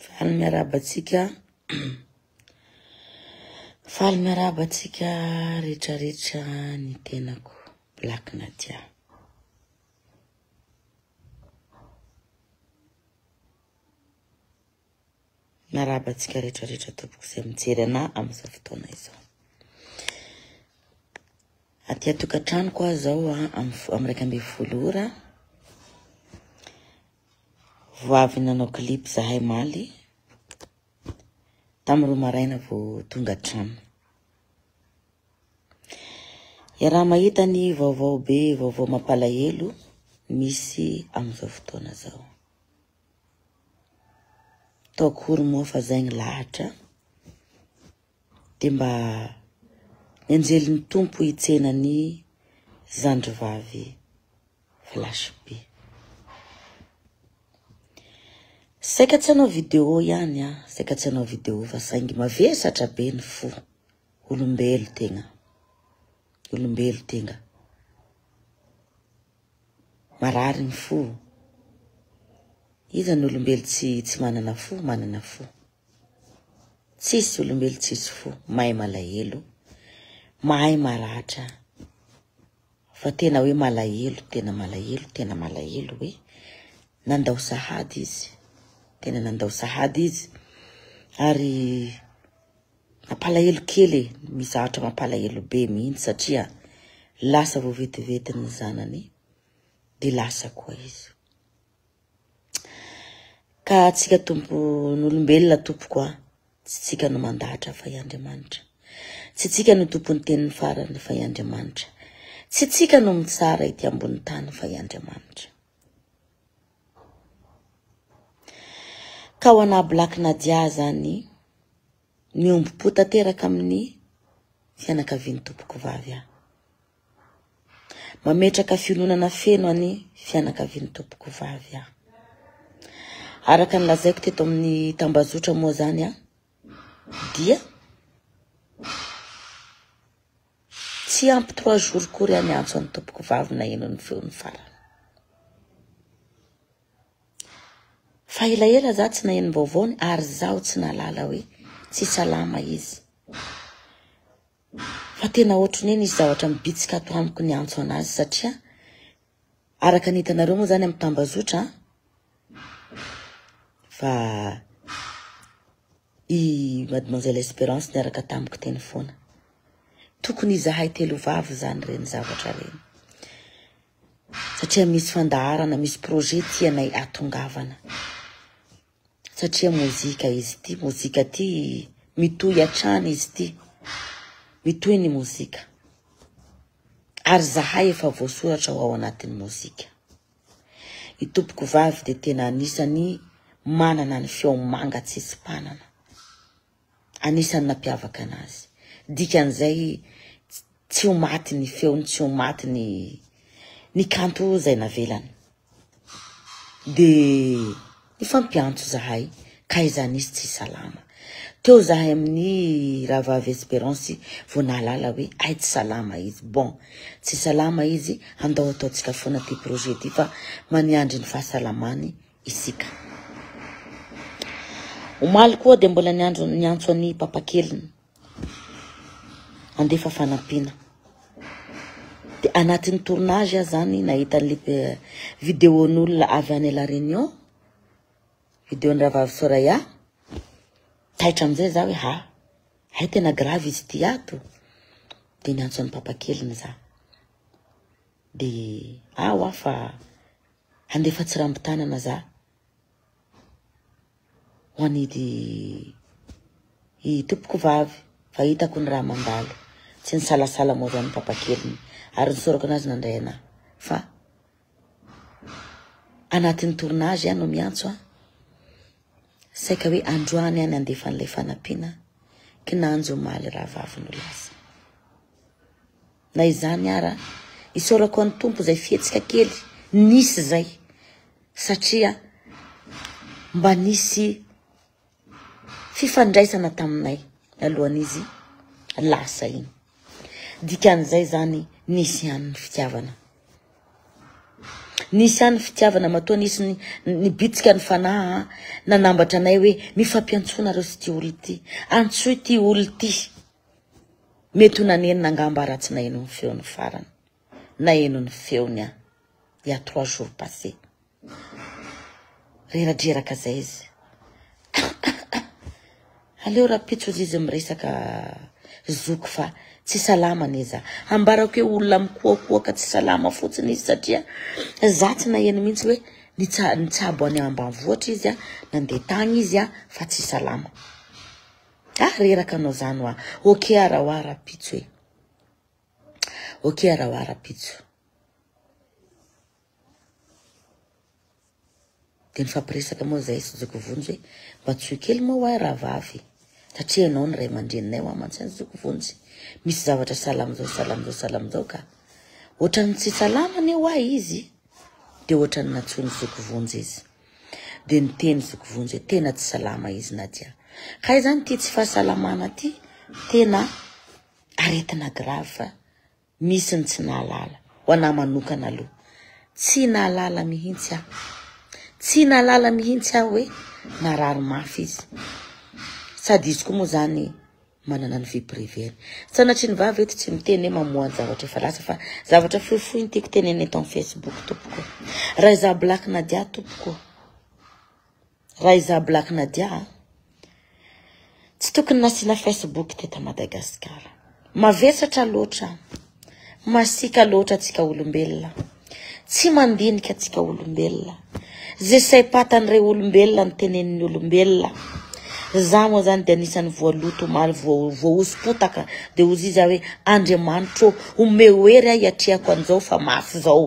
Faly miarahaba antsika Faly miarahaba antsika rehetrarehetra ny tenako Black Nadia Miarahaba antsika rehetrarehetra tompoko izay mijery ana amin'izao fotoana izao Aty an-tokantranoko aho izao amin'ny iraika ambin'ny folo ora Vao avy nanao clip zahay maly, tam roa maraina vao tonga an-trano. Iaraha mahita ny vaovao be vaovao mampalahelo misy amin'izao fotoana zao. Tao akory moa fa zay ny lahatra, Dia mba ny anjelin'ny Tompo hitsena ny zandrivavy flash be. Saika tsy hanao vidéo ihany ah, saika tsy hanao vidéo fa saingy mavesatra be ny fo. Olombelo tegna. Olombelo tegna. Marary ny fo. Iza ny olombelo tsy tsy manana fo, manana fo. Tsisy olombelo tsisy fo mahay malahelo, mahay maratra fa tena hoe malahelo, tena malahelo, tena malahelo hoe nandao sahady izy, tena nandao sahady izy ary mampalahelo kely e, misy zavatra mampalahelo be mihitsy satria lasa vao vetivety ny zanany de lasa koa izy. Ka tsika tompon'olombelona tompoko a, tsy tsika no mandahatra fa i Andriamanitra. Tsy tsika no tompon'ny teniny farany fa i Andriamanitra. Tsy tsika no mitsara ety ambony tany fa i Andriamanitra. Ka ho anà Black Nadia zany, Miombom-po tanteraka amin'ny fianakavian'ny tompokovavy aho. Mametraka fiononana feno any fianakavian'ny tompokovavy aho. Araka ny lazaiko teto amin'ny tambazotra moa zany aho, dia tsy ampy trois jours kory aho niantso an'ny tompokovavy naheno ny feony farany. Fa elaela za tsy naheno ny vaovaony ary zaho tsy nahalala hoe tsy salama izy. Fa tena ohatry ny hoe misy zavatra mibitsika ato amiko niantso anazy satria araka ny hitanareo moa zany amin'ny tambazotra an, fa i mademoiselle Esperance niaraka tamiko teny foana. Tokony izahay telo vavy zany reny zavatra reny. satria misy fandaharana misy projet tianay atongavana satria mozika izy ity mozika ity mitohy hatrany izy ity mitohy ny mozika ary zahay efa voasoratra ho ao anatin'ny mozika ny tompoko vavy dia tena anisany manana ny feo manga tsy isy mpanana Anisan'ny nampiavaka anazy. Dikan'izay tsy ho maty ny feony, tsy ho maty ny ny kanto izay navelany. Dia nifampiantso izahay ka izany izy tsy salama. Teo izahay amin'ny Rahavavy Esperance vao nahalala hoe hay tsy salama izy. Bon, tsy salama izy, andao ataontsika foana ity projet ity fa maniandry ny fahasalamany. isika. Omaly koa dia mbola niandry niantso an'i papakeliny handefa fanampiana. Dia anatin'ny tournage aho zany nahita an'ilay eh, vidéon'olona avy any La Réunion, vidéon'ny Rahavavy Soraya. Taitra amin'izay za hoe ha, hay tena grave izy ity ato. Dia niantso an'i papakeliny za. Dia ah wa fa Handefa tsirambitanana za ho anidy i tompoko vavy fa hitako ny raha mandalo. Tsy nisalasala moa zany papa keliny ary nisorako anazy nandray anà fa anatin'ny tournage aho no miantso a. Saika hoe androany aho nandefa an'ilay fanampiana kinanjo omaly rahavavy no lasa. Na izany ara, isaorako an'i Tompo izay fihetsika kely nisy izay satria mba nisy fifandraisana taminay alohan'izy lasa iny. Dikan'izay zany nisy ihany ny fitiavana. Nisy ihany ny fitiavana matoa nisy ny nibitsika ny fanahy nanambatra anay hoe mifampiantsoanareo sy ity olona ity. Antsoy ity olona ity. Mety ho nanenina angamba raha tsy naheno ny feony farany. Naheno ny feony aho, il y a trois jours passé. Reradreraka izay izy. Aleo rapitso hozy izy miresaka zoky fa tsy salama anie za. Ambarako hoe olona mikoakoaka tsy salama fotsiny izy satria za tsy naheno mihitsy hoe nitsabo any ambanivohitra izy, nandeha tagny izy fa tsy salama. Ah reraka anao zany wa. Ok ara wa rapitso e. Ok ara wa rapitso. Dia nifampiresaka moa zahay sy Zoky Vonjy hoe mba tsoy kely moa wa rahavavy satria ianao ny ray aman-dreninay wa mantsy any Zoky Vonjy. Misy zavatra sahala amin'izao sahala amin'izao sahala amin'izao ka. Ohatran'ny tsy salama anie wa izy. Dia ohatran'ny nantsoin'i Zoky Vonjy izy. Dia niteny Zokovonjy hoe tena tsy salama izy Nadia. Kay zany ity tsy fahasalamana ity tena aretina grave fa misy ny tsy nahalala. Ho anah manokana aloha tsy nahalala mihitsy aho. Tsy nahalala mihitsy aho hoe narary mafy izy. Sady izy koa moa zany manana ny vie privée-ny. Sanatrian'ny vavy eto tsy miteny hoe mamoha ny zavatra efa lasa fa zavatra fohifohy ny tiako tenenina eto amin'ny Facebook tompoko. Raha izaho Black Nadia tompoko, raha izaho Black Nadia a, tsy tokony nasiana Facebook teto Madagasikara. Mavesatra loatra an. Masiaka loatra tsika olombelona. Tsy mandinika tsika olombelona. Ze saim-patany re olombelona ny tenenin'ny olombelona. Za moa zany de anisan'ny voaloto omaly voahoso-potaka de ozy izy hoe Andriamanitro omeo hery ahy atrehako an'izao fa mafy zao.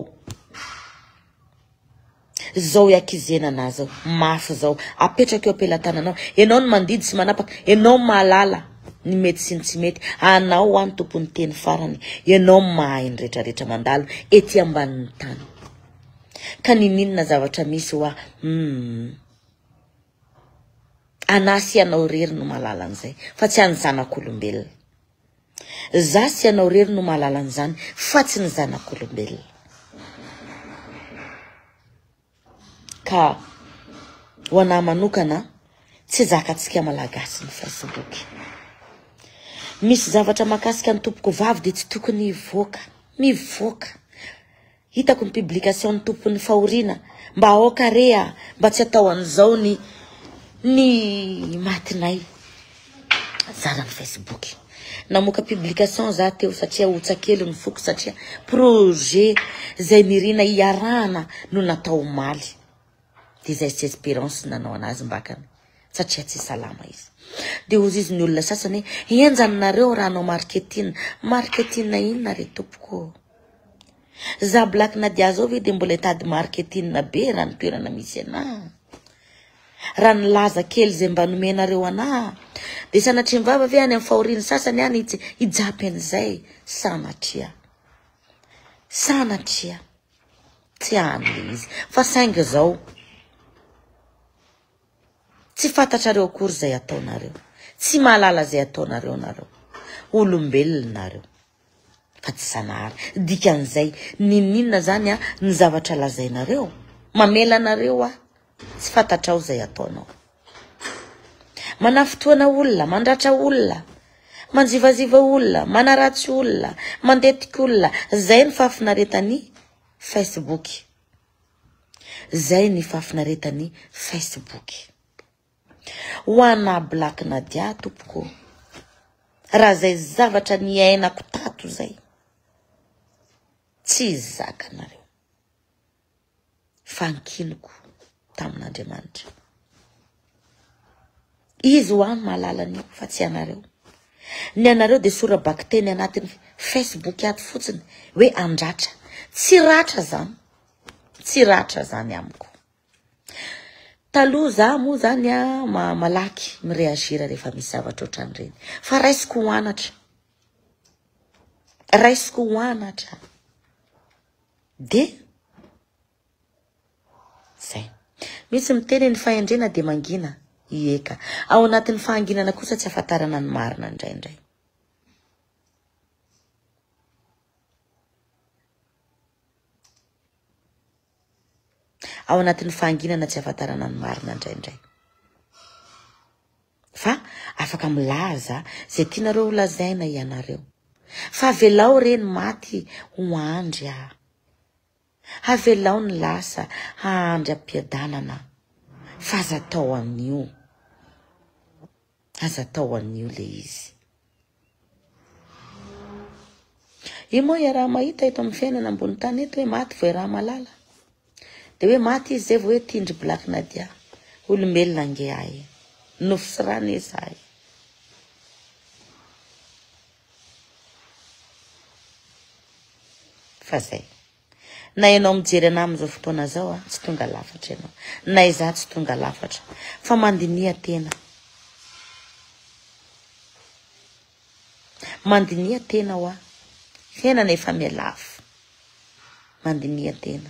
Zao iakizena anah zao. Mafy zao. Apetrako eo am-pelatananao. Enao no mandidy sy manapaka. Enao no mahalala ny mety sy ny tsy mety. Anao hoa ny tompon'ny teny farany. Enao no mahay ny retraretra mandalo ety ambanin'ny tany. Ka niniana zavatra misy hoa humm. Anah sy anao irery no mahalala an'izay fa tsy an'ny zanak'olombelona. Za sy ianao rery no mahalala an'izany fa tsy ny zanak'olombelona. Ka ho anah manokana tsy zakantsika malagasy ny facebook. Misy zavatra makasika ny tompoko vavy de tsy tokony hivoaka. Mivoaka. Hitako ny publication ny tompony fahoriana mba aoka re a mba tsy atao an'izao ny ny matinay zara ny facebook namoaka publication za teo satria hotsakely ny foko satria projet zay nirina hiarahana no natao omaly Dia izay tsy espérance no nanao anazy mbakany satria tsy salama izy. Dia ozizy ny olona sasany hoe henjana nareo raha hanao marketing. Marketing inona re tompoko? Za Black Nadia zao ve dia mbola hitady marketing be raha ny toerana misy anah? Raha nilaza kely izay mba nomenareo anah dia sanatria mivava ve any amin'ny fahorian'ny sasany any hijapy an'izay? Sanatria. Sanatria. Tsy any le izy. Fa saingy zao tsy fantatrareo akory zay ataonareo. Tsy mahalala zay ataonareo nareo. Olombelona nareo. Fa tsy zanahary. Dikan'izay, ninoninona zany an ny zavatra lazainareo? Mamela anareo aho. Tsy fantatrao izay ataonao. Manafintohina olona, mandratra olona, manjivaziva olona, manaratsy olona, mandetika olona, zay ny fahafinaretan'ny Facebook. Zay ny fahafinaretan'ny Facebook. Ho ana Black Nadia tompoko. Raha zay zavatra niainako tato zay. Tsy zakanareo. fa ankiniko tamin'Andriamanitra. Izy ho ahy no mahalala an'io fa tsy ianareo. Ny anareo dia sora-bakiteny anatin'ny Facebook ato fotsiny hoe andratra. Tsy ratra zany. Tsy ratra zany amiko. Taloha za moa zany a ma malaky mireagir rehefa misy zavatra ohatran'ireny. Fa raisiko ho anatra. Raisiko ho anatra. Dia zay. Misy miteny hoe ny fahendrena dia mangina. Ie ka. Ao anatin'ny fahanginana kosa tsy ahafantarana ny marina indraindray. Ao anatin'ny fahanginana tsy ahafantarana ny marina indraindray. Fa afaka milaza ze tianareo ho lazaina ianareo. Fa avelao re ny maty ho andry a. Avelao ny lasa hahandry ampiadanana fa aza atao anio. Aza atao anio le izy. Io moa iaraha-mahita eto amin'ny fiainana ambony tany eto hoe maty vao iaraha-malala. Dia hoe maty izy izay vao hoe tindry Black Nadia. Olombelona ange ahy. Nofo sy rano izahay. Fa zay. Na ianao mijery anah amin'izao fotoana izao an, tsy tonga lafatra ianao. Na izaho tsy tonga lafatra. Fa mandiniha tena. Mandiniha tena hoa. Fiainana efa miha lafo. Mandiniha tena.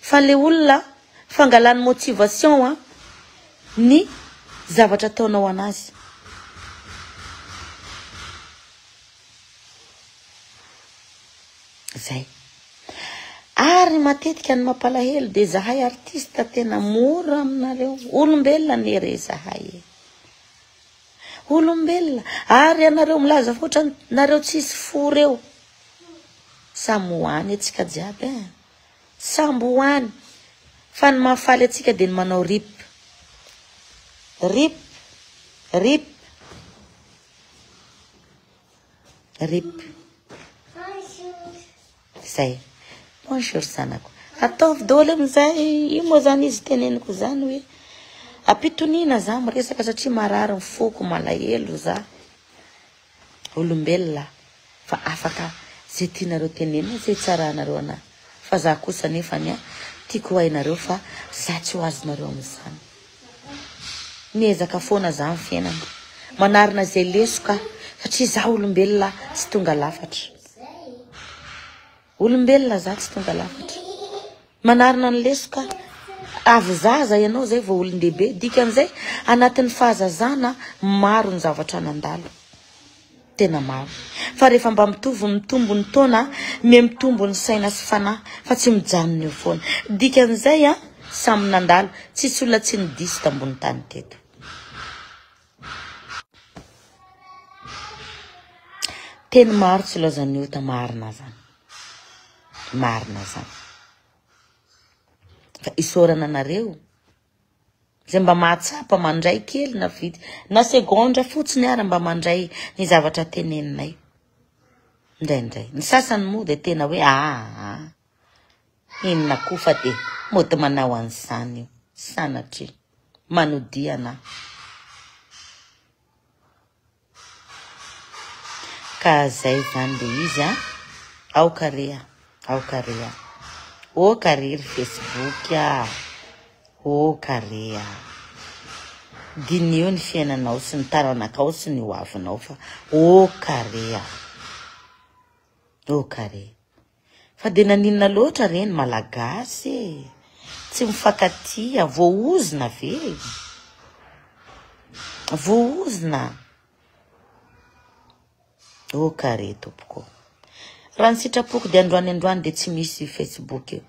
Fa le olona fangalany motivation an ny zavatra ataonao anazy. Zay. Ary matetika ny mampalahelo de zahay artiste tena mora aminareo. Olombelona anie re zahay e. Olombelona ary ianareo milaza fa ohatran nareo tsisy fo reo. Samy ho any atsika jiaby eh. Samby ho any. Fa ny mahafaly atsika dia ny manao rip. Rip. Rip. Rip. Zay. Bonjour zanako. Ataovy daholo amin'izay. Io moa zany izy teneniko zany hoe ampitoniana za miresaka satria marary ny foko, malahelo za. Olombelona fa afaka ze tianareo tenenina ze hitsaranareo anahy fa za kosa nefany tiako ho hainareo fa za tsy ho azonareo amin'izany. Miezaka foana za am fiainana manarina ze lesoka satria za olombelona tsy tonga lafatra, olombelona za tsy tonga lafatra, manarina ny lesoka avy zaza ianao zay vao olondehibe dikan'izay anatin'ny fahazazana maro ny zavatra nandalo. Tena maro. Fa rehefa mba mitovy mitombo ny taona, miha mitombo ny saina sy fanahy fa tsy mijanona eo foana. Dikan'izay an, samy nandalo, tsisy olona tsy nidiso tambony tany teto. Teny maro tsy ilaozan'ny ota, marina zany. Marina zany. Ka isaorana anareo. Izay mba mahatsapa mandray kely na vitsy na segondra fotsiny ara mba mandray ny zavatra teneninay. Indraindray. Ny sasany moa dia tena hoe aa inona koa fa dia mody manao an'izany io sanatria manodihana. Ka zay zany le izy a! Aoka re a! Aoka re a! Oka re ry Facebook a! Oka re a! Diniho ny fiainanao sy ny taranakao sy ny hoavinao fa oka re a! Oka re! Fa dia naninona loatra re ny Malagasy e! Tsy mifankatia, voaozona ve? Voaozona? Oh ka re tompoko ô! Raha ny sitrapoko dia androany androany dia tsy misy Facebook io.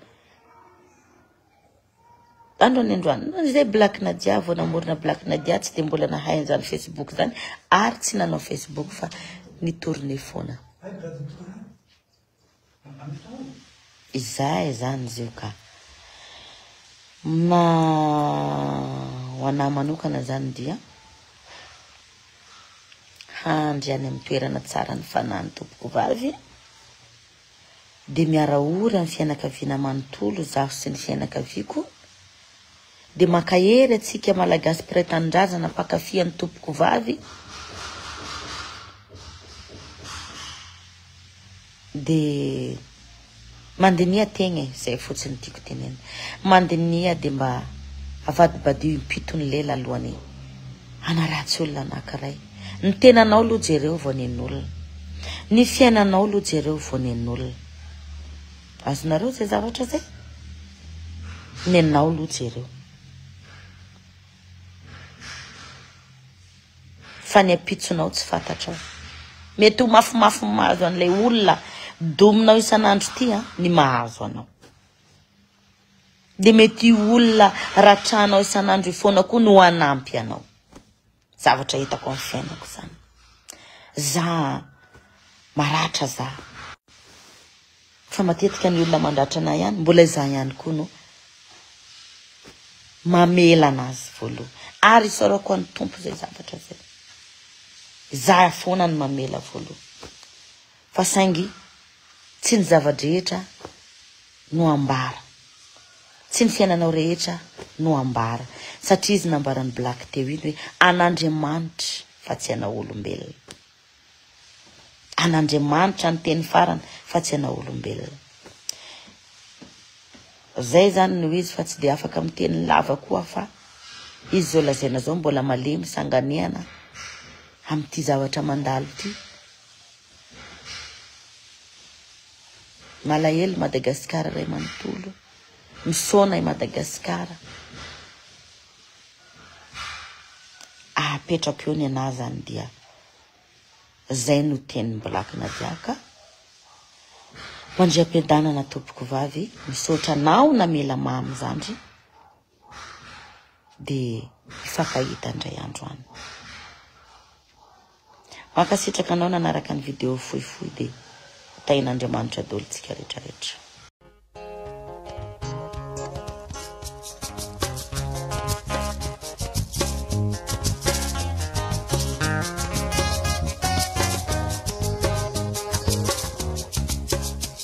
Androany androany, izay Black Nadia vao namorona Black Nadia tsy dia mbola nahay an'izany Facebook izany ary tsy nanao Facebook fa nitourner foana. Izahay izany izy io ka. Mna ho anah manokana izany dia handry any amin'ny toerana tsara ny fanahy ny tompoko vavy dia miara ory amin'ny fianakaviana manontolo izaho sy ny fianakaviako, Dia mankahery atsika malagasy mpiray tanindrazana mpankafy an'i Tompokovavy dia mandiniha tegna e, zay fotsiny tiako tenenina, mandiniha dia mba avadibadio impito ny lela alohan'ny hanaratsy olona anankiray, ny tenanao aloha jereo vao nen'olona, ny fiainanao aloha jereo vao nen'olona. Azonareo zay zavatra zay? Nenao lo jereo. Fa ny ampitsonao tsy fantatrao. Mety ho mafimafy ny mahazo an'ilay olona dominao isan'andro ty a, ny mahazo anao. Dia mety olona ratranao isan'andro ifoana koa no hanampy anao. Zavatra hitako amin'ny fiainako zany. Za maratra za. Fa matetika ny olona mandratra anay ihany, mbola izaho ihany koa no mamela anazy voaloha. Ary isaorako an'ny Tompo izay zavatra izay. Izaho foana no mamela voaloha. Fa saingy tsy ny zava-drehetra no ambara, tsy ny fiainanao rehetra no ambara, satria izy nambaran'i Black teo iny hoe an'Andriamanitra fa tsy anao olombelona. An'Andriamanitra ny teny farany fa tsy anao olombelona. Zay zany no izy fa tsy dia afaka miteny lava koa fa izy zao lazaina zao mbola malemy sanganehana amin'ity zavatra mandalo ity. Malahelo Madagasikara ray manontolo. Misaona i Madagasikara. Ahapetrako eo ny anah zany dia zay no tenin'i Black Nadia ka. Mandriampiadanana tompokovavy. Misaotra anao namela mamy zandry. dia hifankahita indray andro any. Mankasitraka anao nanaraka ny video fohifohy dia ho tahin'Andriamanitra daholo tsika rehetra rehetra.